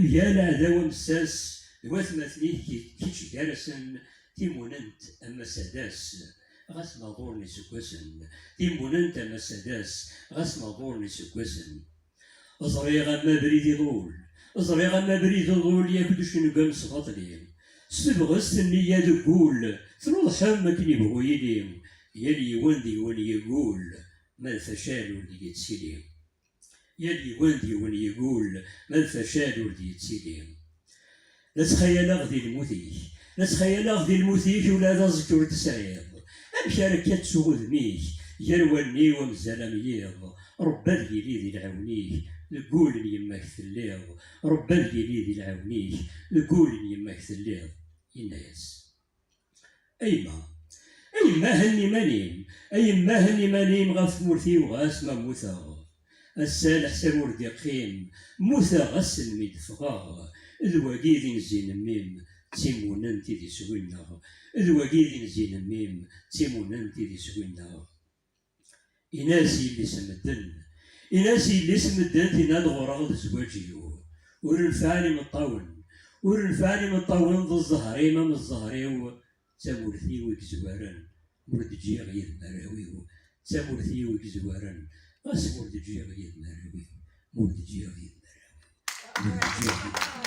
Mgal aɛdaw amessas d watmaten-ik, kečč gar-asen timunent a Mass Adas, ɣas ma ḍuren yiseggasen, timunent a Mass Adas, ɣas ma ḍuren yiseggasen. Ẓriɣ am abrid iḍul, ẓriɣ am abrid iḍul yak d ucengem s baṭli, s tebɣest nniya deg wul, tnuḍḥem akken ibɣu yili, yal yiwen deg-wen yeggul, ma d facal ur deg-i ttili. Yal yiwen d yiwen igul, ma d facal ur d-yettili. La ttxayaleɣ di lmut-ik, la ttxayaleɣ di lmut-ik ula d aẓekka ur t-sɛiḍ. Amek ara akka ttuɣ udem-ik gar wallen-iw amzal am yiḍ, Ṛebbi ad yili di lɛiwen-ik, deg wul n yemma-k telliḍ, Ṛebbi ad yili di lɛiwen-ik, deg wul n yemma-k telliḍ. Yenna-yas. A yemma, a yemma henni iman-im, a yemma henni iman-im ɣef tmurt-iw ɣas ma mmuteɣ. Ass-a leḥsab ur d-iqqim, mmuteɣ ass-n mi d-ffɣeɣ, d wagi i d inzi n mmi-m, d timunent i d iswi-nneɣ, d wagi i d inzi n mmi-m, d timunent i d iswi-nneɣ. Inna-as yelli-s n medden. Inna-as yelli-s n medden tenna-d ɣur-ɣ d zzwaǧ-iw. Ur nefɛen imeṭṭawen. Ur nefɛen imeṭṭawen d zzher-im am zzher-iw, d tamurt-iw i yezwaren, ur d-ǧǧiɣ yid-m arraw-iw, d tamurt-iw i yezwaren, ɣas ur d-ǧǧiɣ yid-m arraw-iw, ur d-ǧǧiɣ yid-m arraw-iw, ur d-ǧǧiɣ yid-m arraw-iw.